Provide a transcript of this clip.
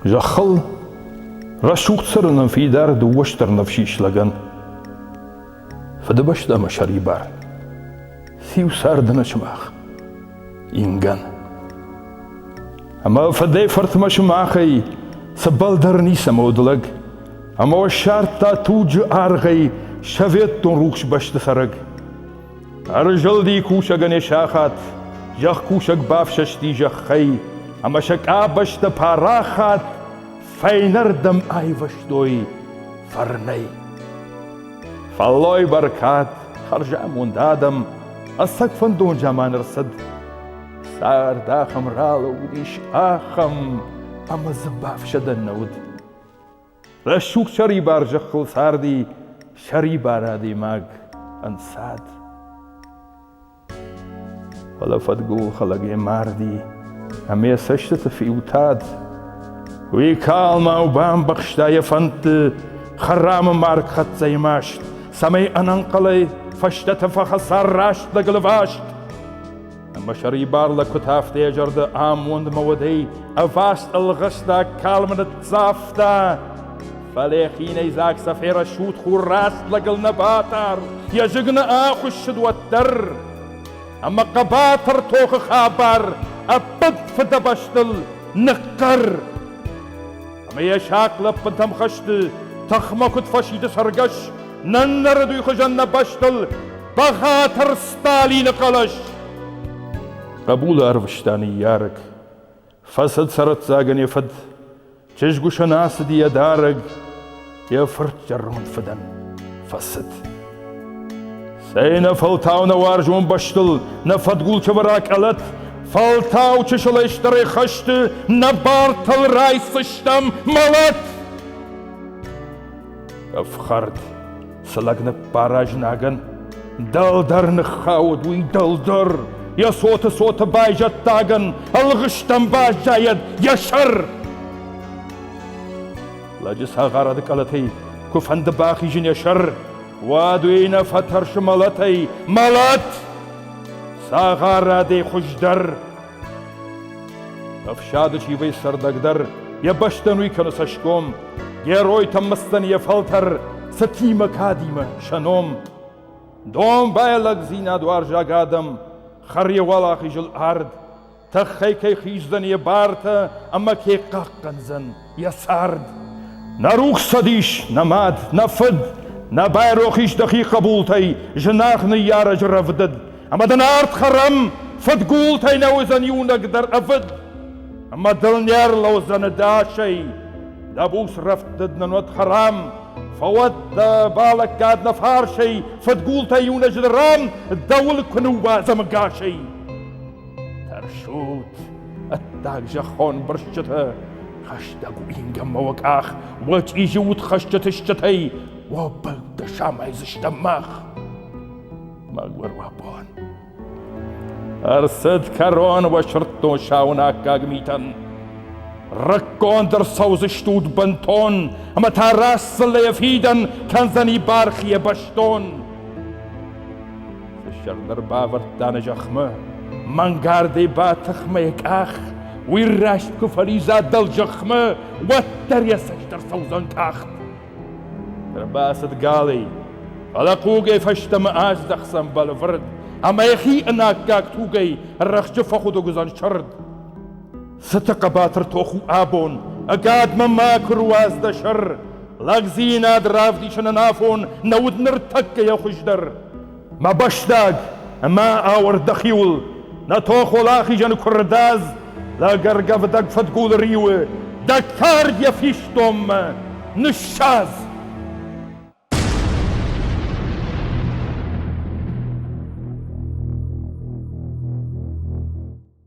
Зӕххыл рӕсугъд цӕрынӕн фидар дыууӕстӕр ныфсис лӕгӕн. Фыдыбӕстӕ ӕмӕ сӕрибар. Циу царды нӕ сымах? ингӕн. Ӕма фӕдӕй фӕртмӕ сымахӕй цӕбӕлдӕр ницӕмӕ уыд лӕг, ӕма уӕ ссардта туджы аргъӕй советон рухс бӕсты цӕрӕг. Ӕрзылди кусӕгӕн е сахат, зӕхкусӕг бафсӕсти зӕххӕй, ӕма сӕ къабӕзтӕ парахат фӕйнӕрдӕм айвӕзтой фӕрнӕй. Фӕллой бӕркад, хӕрзамонд адӕм ӕцӕг фӕндон заман ӕрцыд. Цард ахӕм ралӕууыдис, ахӕм, ӕмӕ дзы бафсӕдӕн нӕ уыд. Рӕсугъд сӕрибар зӕххыл царди сӕрибар адӕймаг ӕнцад. Фӕлӕ фӕдгул хӕлӕг йӕ марди ӕмӕ йӕ цӕстыты фиутад. Уый калмау бамбӕхста йӕ фӕндты хӕрамы маргхӕццӕйы маст, цӕмӕй ӕнӕнхъӕлӕй фӕстӕты фӕхӕца рӕстӕг лваст. Ӕмӕ сӕрибар лӕгкуытӕфты йӕ зӕрды амондмӕ удӕй ӕваст ӕлгъыста, калмы ныццавта. Фале хийнӕйдзаг сӕ ферӕсут хурраст лӕгыл нӕ батар, йе зыг нӕ ахуыссыд уӕддӕр. Ӕмӕ хъӕбатыр тохы хабар ӕппӕт фыдӕбӕстыл ныхъхъӕр. Ӕмӕ йӕ сахъ лӕппынтӕм хӕсты тыхмӕ куыд фӕсиды цӕргӕс, наннӕрыд уый хуызӕн нӕ бӕстыл бӕгъатыр Сталины хъӕлӕс. Хъӕбулы арвыста ныййарӕг, Фӕцыд цӕрӕццагӕн йӕ фыд, чызгусӕн ацыди йӕ дарӕг, йӕ фырт зӕронд фыдӕн фӕцыд. Цӕй нӕ фӕлтау нӕ уарзон бӕстыл нӕ фӕдгулты вӕрӕ къӕлӕт, фӕлтау чысылӕй стӕрӕй хӕсты нӕ бартыл райсфыстам мӕлӕт! Ӕфхӕрд Цы лӕг ныббара знагӕн, дӕлдӕр ныххауд уый дӕлдӕр, йӕ цоты цоты байзӕддагӕн, ӕлгъыстӕн баззайӕд йӕ сӕр! Лӕджы цагъарады къӕлӕтӕй куы фӕнды бахизын йӕ сӕр, уӕд уый нӕ фӕтӕрсы мӕлӕтӕй, мӕлӕт! Цагъарадӕй хуыздӕр Ӕфсады чивӕй цӕрдӕгдӕр йӕ бӕстӕнуй кӕны цӕсгом, геройтӕм мысдзӕн йӕ фӕлтӕр цытимӕ кадимӕ сӕ ном. Донбайлӕгдзинадуарзаг адӕм хӕр йӕ уӕлахизыл ард, тӕххӕй кӕй хиздзӕн йӕ бартӕ ӕмӕ кӕй хъахъхъӕндзӕн. йӕ цард. Нӕ рухсадис, нӕ мад, нӕ фыд, нӕ байрох ис дӕхи хъӕбултӕй, зынаргъ ныййарӕджы рӕвдыд, ӕмӕ дын ард хӕрӕм, фыдгултӕй нӕ уыдзӕн иунӕг дӕр ӕвыд, ӕмӕ дыл не рлӕудзӕн дасӕй. Дӕ буц рӕвдыд нын уӕд хӕрам, фӕуӕд дӕ балӕггад нӕ фарсӕй, фыдгултӕй иунӕджы ран дӕ уылк куы ныууадзӕм ӕгасӕй. Тӕрсут, ӕддаг зӕххон бырсчытӕ, хӕстӕг уингӕмӕ уӕ къах, уӕ чъизи удхӕсджыты стджытӕй, уӕ бӕлдтӕ самайдзыстӕм мах. Мӕгуыр уӕ бон! Ӕрцыд кӕрон уӕ сырдтон саунӕггаг митӕн. Рыггонд ӕрцӕудзыстут бынтон, ӕмӕ та рӕстдзыллӕйӕ фидӕн кӕндзӕни бархийӕ бӕстон. Фыссӕг бавӕрдта нӕ зӕхмӕ, мӕнгардӕй ба тыхмӕ йӕ къах, уый раст куы фӕлидза дӕлзӕхмӕ, уӕддӕр йӕ цӕст ӕрцӕудзӕн къахт. Ӕрбацыд Галый, фӕлӕ хъугӕй фӕстӕмӕ аздӕхдзӕн бӕлвырд, ӕмӕ йӕхи ӕнаккаг тугӕй рӕхджы фӕхуыдуг уыдзӕн сырд. Цыты хъӕбатыр тох у абон, ӕгадмӕ макуы руадз дӕ сӕр. Лӕгдзинад равдисынӕн афон нӕ уыд ныртӕккӕйӕ хуыздӕр. Мӕ бӕстаг ӕмӕ ауӕрд дӕхиуыл, нӕ тохол ахизӕны куырдадз, лӕгӕргӕвдӕг фыдгулы риуы, дӕ кард йӕ фистонмӕ, ныссадз!